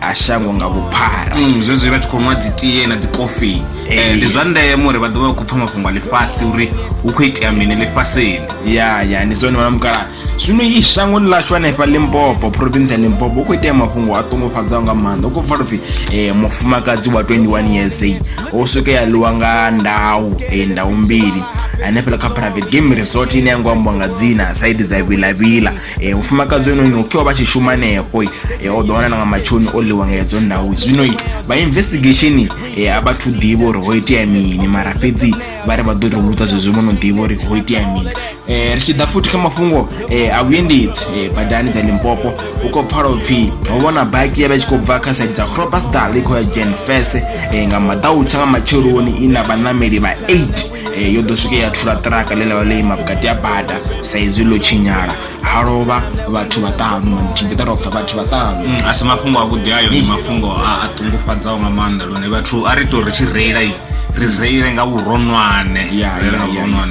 a shango nga vhuphara Mm, zwezwi vha tshi khou nwa dzitie na dzikofi Eh, Eh. ndi zwa ndeme uri vha ḓovha vha khou pfa mafhungo a ḽifhasi uri hu khou itea mini ḽifhasini ya ya ndi zwone mamukala zwino i shangoni ḽashu hanefha limpopo province ya limpopo u khou itea mafhungo a ṱungufhadzaho nga maanḓa u khou pfala upfhi um mufumakadzi wa 21 years eh, o swike ya ḽiwa nga ndau eh, ndau mbili hanefhala kha private game resort ine yango ambiwa nga dzina saidi dza vilavila e, mufumakadzi onoyi no pfhiwa vha tshi shuma hanefho e, o ḓo wana na nga matshoni o ḽiwa nga hedzo ndau zwino vha investigation e, a vhathu ḓivha uri ho itea mini mara fhedzi vha ri vha ḓo ri vhudza zwezwo vho no ḓivha uri ho itea mini e, ri tshi ḓa futhi kha mafhungo e, a vhuendedzi e, badani dza limpopo u khou pfala upfhi ho vhona baki ya vha tshi khou bva kha saidi dza crobasdal i khou ya jen fese e, nga maḓautsha nga matsheloni i na vhaṋameli vha 8 e, yo ḓo swike ya thula ṱiraka ḽe ḽavha ḽo ima vhukati ha bada sa izwi ḽo tshinyala ha lovha vhathu vhaṱanu tshimbita ro pfa vhathu vhaṱanu mm, a si mafhungo avhuḓi ayo ndi mafhungo a ṱungufhadzaho nga maanḓa lune vhathu a ri tou ri tshi reila ri reile nga vhuronwane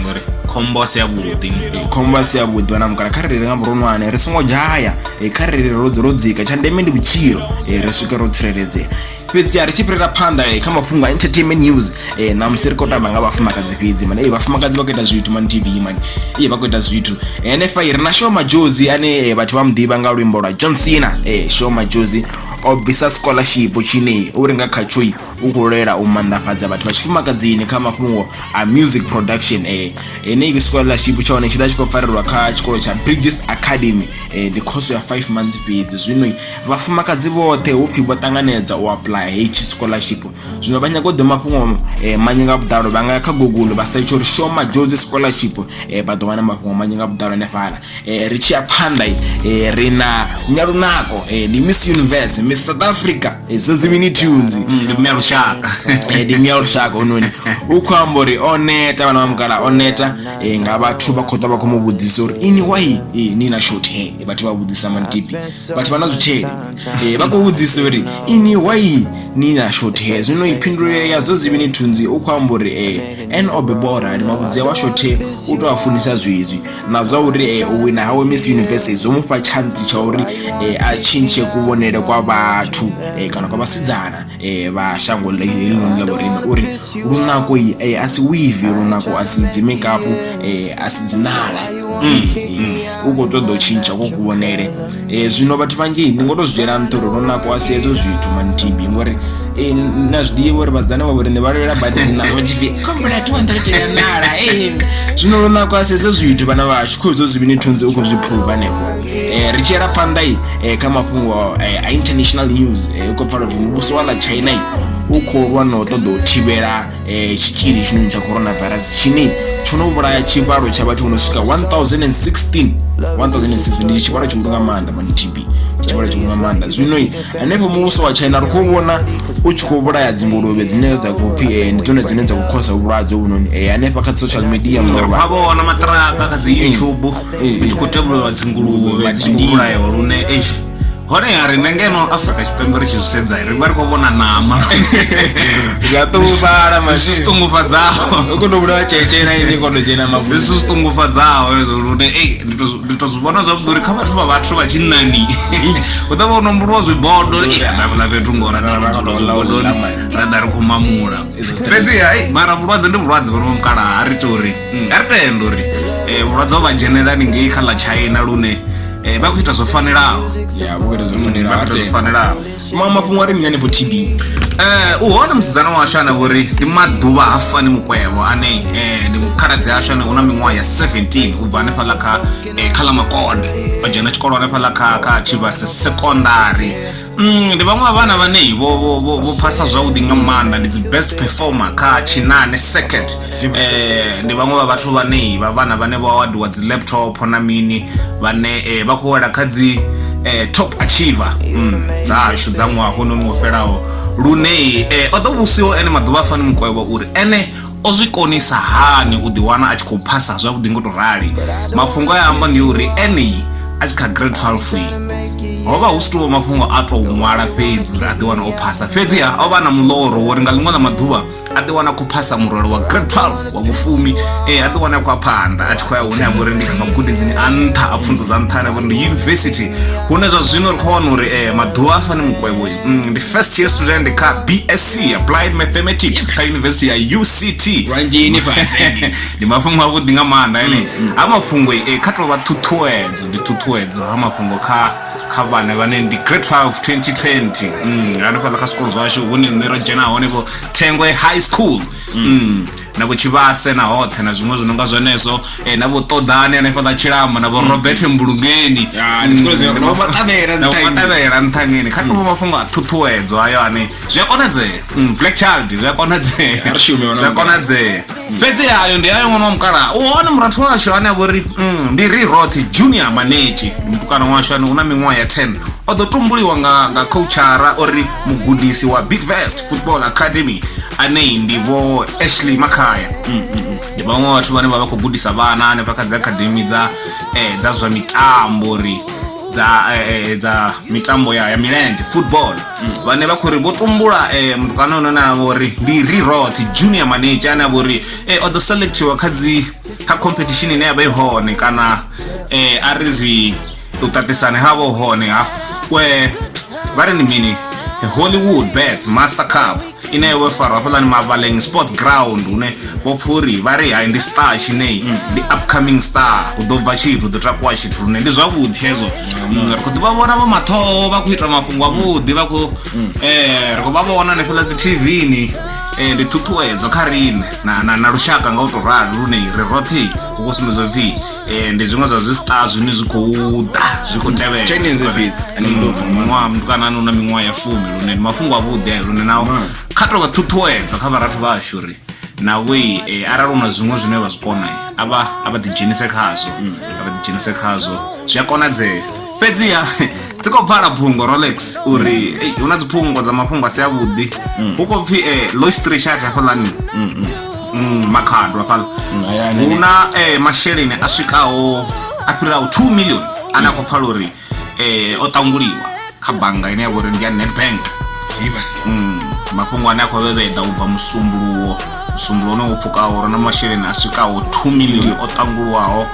ngori khombo si yavhuḓi khombo si yavhuḓi vhana mukala kha riri nga vhuronwane ri songo dzhaya kha riri ro dzika tsha ndeme ndi vhutshilo ri swike ro tsireledzea fhedzi ya ri tshi fhirela phanḓa eh, kha mafhungo a entertainment news eh, ṋamusi ri khou tamba nga vhafumakadzi fhedzi mani eh, vhafumakadzi vha khou ita zwithu mani tv mani iye vha khou ita zwithu henefha ri na shoma jozi ane vhathu vha muḓivha nga luimbo lwa john cena shoma jozi o bvisa scholarship tshine uri nga khatsho u khou lwela u manḓafhadza vhathu vha tshifumakadzini kha mafhungo a music production eh enei scholarship tsha hone tshi ḓa tshi khou farelwa kha tshikolo tsha bridges academy eh ndi khoso ya 5 months fhedzi zwino Vhafumakadzi vhoṱhe hu pfhi vho ṱanganedza u apuḽaya hetshi scholarship zwino vha nyaga u ḓo mafhungo eh, manzhi nga vhuḓalo vha nga ya kha google vha setsha uri show majozi scholarship eh, vha ḓo wana mafhungo manzhi nga vhuḓalo hanefhala eh, ri tshi ya phanḓa eh, ri na nyalunako eh, ndi miss universe miss south africa eh, zozimini tunes mm, ndi mmea lushaka eh, ndi mmea lushaka ononi u khou amba uri o neta vhana vha mukala o neta eh, nga vhathu vha khou ḓa vha khou mu vhudzisa uri ini wai eh, ni na short hair vhathu vha vhudzisa mantipi vhathu vha na zwitshele eh, vha khou vhudzisa uri ini wai ni na shothe zwino i phindulo ya zwo zivi ni thunzi u khou amba uri eh, en o bebwa orali mavhudzea wa shothe u tou a funisa zwezwi na zwa uri eh, u wina hawe miss university zwo mu fha tshantsi tsha uri a tshintshe kuvhonele kwa vhathu kana kwa vhasidzana eh, vha shango helinoni ḽa vhorine uri lunako eh, a si wivi lunako a si dzimikapu eh, a si dzinala u khou ṱoḓa u tshintsha ko kuvhonele zwino vhathu vhanzhi ndi ngo to zwi dzhiela nṱha uri lunako a si hezwo zwithu mantibi ngori na zwi ḓivha uri vhasidzana vha vhorine vha lwela badi dzinala vhatshipfi khombela 200 ya nala zwino lunako a si hezwo zwithu vhana vhashu kho hezwo zwivhini thunzi u khou zwi phuva hanefho Eh, ri tshi yela phanḓa i eh, kha mafhungo eh, a international news eh, u khou pfala uri muvhuso wa ḽa china i u khou lwa na u ṱoḓa u thivhela eh, tshitzhili tshinoni tsha coronavirus tshine tsho no vhulaya tshivhalo tsha vhathu vho no swika 1016 1016 ndi tshivhalo tshihulu nga maanḓa mani tb tshivhalo tshihulu nga maanḓa zwino i hanefho muvhuso wa china ri khou vhona u tshi khou vhulaya dzinguluvhe dzine dza khou pfhi eh, ndi dzone dzine dza khou khosa vhulwadze hovhunoni eh, hanefha kha dzi social media ri murwa khou vhona maṱiraka kha dzi youtube u tshi khou tevhulelwa dzinguluvhe dzingulayo lune eish honeha riṋe ngeno afrika tshipembe ri tshi zwi sedza ri vha ri khou vhona ṋama ya ṱungufhala zwi zwi ṱungufhadzaho kono vhulawa tshetsheela ini kono dzhena mavu zwi zwi ṱungufhadzaho hezwo lune ei ndi to- ndi to zwi vhona zwavhuḓi uri kha vhathu vha vhathu vha tshinnani u ḓa vha u nomboliwa zwibodo ravhula fhethu ngo ra ḓa ro dzula zwibodoni ra ḓa ri khou mamula fhedziha ei, mara vhulwadze ndi vhulwadze vhono mukalaha a ri tori mm, a ri tenda uri eh, vhulwadze ho vha dzhenela haningei kha ḽa china lune eh, vha khou ita zwo fanelaho ya vho ita zwo mm, fanelaho zwo fanelaho ma mafhungo a ri mini hanefho tb eh u hone musidzana washu ane vhori ndi maḓuvha ha fani mukwevho ane eh ndi mukhaladzi ashu ane una miṅwaha ya 17 u bva hanefha ḽa kha eh, kha ḽa makonde o dzhena tshikolo hanefha ḽa kha kha tshivhase secondary Mm, ndi vhaṅwe vha vhana vhanei vho vho- vho vho phasa zwavhuḓi nga maanḓa ndi dzi best performer kha tshinane second eh ndi vhaṅwe vha vhathu vhanei vha vhana vhane vho awadiwa dzi laptop na mini vhane eh, vha khou wela kha dzi eh, top achiever mm, dzashu dza ṅwaha hononi wo fhelaho lune eh, o ḓo vhusiwa ene maḓuvha a fani mukwevho uri ene o zwi konisa hani u ḓiwana a tshi khou phasa zwavhuḓi ngo to rali mafhungo a amba ndi uri ene a tshi kha grade 12 ho vha hu si tou mafhungo a tou ṅwala fhedzi uri a ḓiwana o phasa fhedzi ha o vha na muḽoro wori nga ḽiṅwe ḽa maḓuvha a ḓiwana khou phasa murwelo wa grade 12 wa vhufumi e a ḓiwana khou a phanḓa a tshi khou ya hune a vhori ndi kha magudedzini a nṱha a pfunzo dza nṱha ane a vhori ndi yunivesithi hune zwa zwino ri khou wana uri um maḓuvha a fani mukwevho Mm, ndi first year student kha bsc applied mathematics kha yunivesithi ya uct lwanjini fhasi ndi mafhungo avhuḓi nga maanḓa ene ha mafhungo e kha tovha ṱhuṱhuwedzo ndi ṱhuṱhuwedzo ha mafhungo kha kha vhana vhane ndi grade 12 2020 Mm, hanefhaḽa kha zwikolo zwashu hune nṋe ro dzhena hone vho thengwe high school Mm. na vho tshivhase na hoṱhe na zwiṅwe zwi no nga zwenezwo eh, na vho ṱoḓani hanefha ḽa tshilamo na vho mm. robert mbulungeni mm. vhomaṱavhela nṱhangeni kha tovho mm. mafhungo a ṱhuṱhuwedzo ayo ane zwi a konadzea black child zwi a konadzea zwi a konadzea fhedzi ayo ndi ayo ṅwana wa mukala u hone murathu washu ane a vho ri ndi ri roṱhe junior manetshi mutukana washu ane u na miṅwaha ya 10 o ḓo tumbuliwa nga coachara uri mugudisi wa bitvest football academy anei ndi vho ashley makhaya ndi vhaṅwe vhathu vhane vha vha khou gudisa vhana hanefha kha dzi academy dza eh, dza zwa mitambo uri dza eh, eh, dza mitambo ya, ya milenzhe football vhane vha khou ri vho tumbula eh, mutukana ono na vho ri ndi riroth junior manager ane a vho ri eh, o ḓo selectiwa kha dzi kha competition ine ya vha i hone kana eh, a ri ri u ṱaṱisana ha vho hone ha eh, vha ri ni mini hollywood bet master cup ine yo farwa hafhaḽani mavaleng sports ground hune vho pfha uri vha ri hai ndi star tshinei mm. ndi upcoming star hu ḓo bva tshithu ḓo takuwa tshithu lune ndi zwavhuḓi hezwo mm. Mm, ri khou ḓi vha vhona vho mathoho vha khou ita mafhungo avhuḓi vha khou um ri khou vha vhona hanefhaḽa dzi tvni um ndi ṱhuṱhuwedzo kha riṋe na lushaka nga u tou rali lune ri roṱhe hu khou sumbedza pfhi Eh, ndi zwiṅwe zwa zwistar zwine zwi khou ḓa zwi khou tevhelamuṅwaha mutukana ane una miṅwaha ya fumi lune ndi mafhungo avhuḓi ayo lune nawo mm. kha to vha ṱhuṱhuwedza kha vharathu vha ashu uri nawei eh, arali una zwiṅwe zwine vha zwi kona a vha ḓidzhenise khazwo mm. a vha ḓidzhenise khazwo zwi a konadzea fhedziha dzi khou pfala phungo rolex uri ei, hu na dziphungo dza mafhungo a si avhuḓi hu khou pfhi eh, low street chat hafhaḽani Mm, makhado hafhaḽa hayani. hu na eh, masheleni a swikaho a fhiraho 2 million ane a khou pfala uri eh, o ṱanguliwa kha bannga ine ya vha uri ndi ya nedbank Mm, mafhungo ane a khou vhevheda u bva musumbuluwo musumbuluwo une wo pfukaho uri na masheleni a swikaho 2 million o ṱangulwaho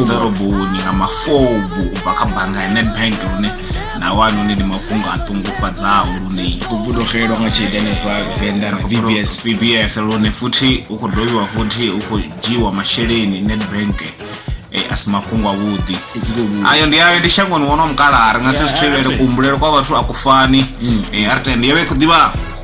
ḓoroboni nga mafobvu u bva kha bannga ya nedbank lune na wani hune ndi mafhungo a ṱungufhadzaho lune u vhulogelo nga tshelede hanefha venḓa bbs bbs lune futhi u khou dovhiwa futhi u khou dzhiiwa masheleni nedbank eh, a si mafhungo avhuḓi ayo ndi ayo ndi shangoni wono mukala ri nga si zwi thivhele kuhumbulelo kwa vhathu a ku fani mm. eh, ri tende yo vha i khou ḓivha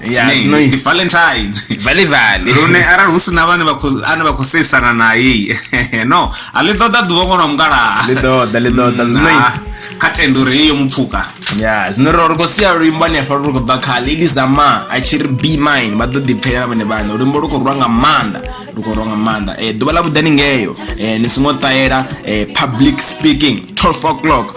ndi valentine vale vale lune arali hu sina vhane ane vha khou seisana naye no a ḽi ṱoḓa ḓuvha ṅwana wa mukalaha ḽi ṱoḓa ḽi ṱoḓa mm, zwino kha tendo uri heyo mupfuka ya zwino ri ri khou sia luimbo hanefha ri khou bva kha lili za ma a tshi ri be mine vha ḓo ḓipfhelela vhone vhane luimbo lu khou rwa nga maanḓa lu khou rwa nga maanḓa um ḓuvha ḽa vhuḓani ngeyo um ni songo ṱahela um public speaking 12 o'clock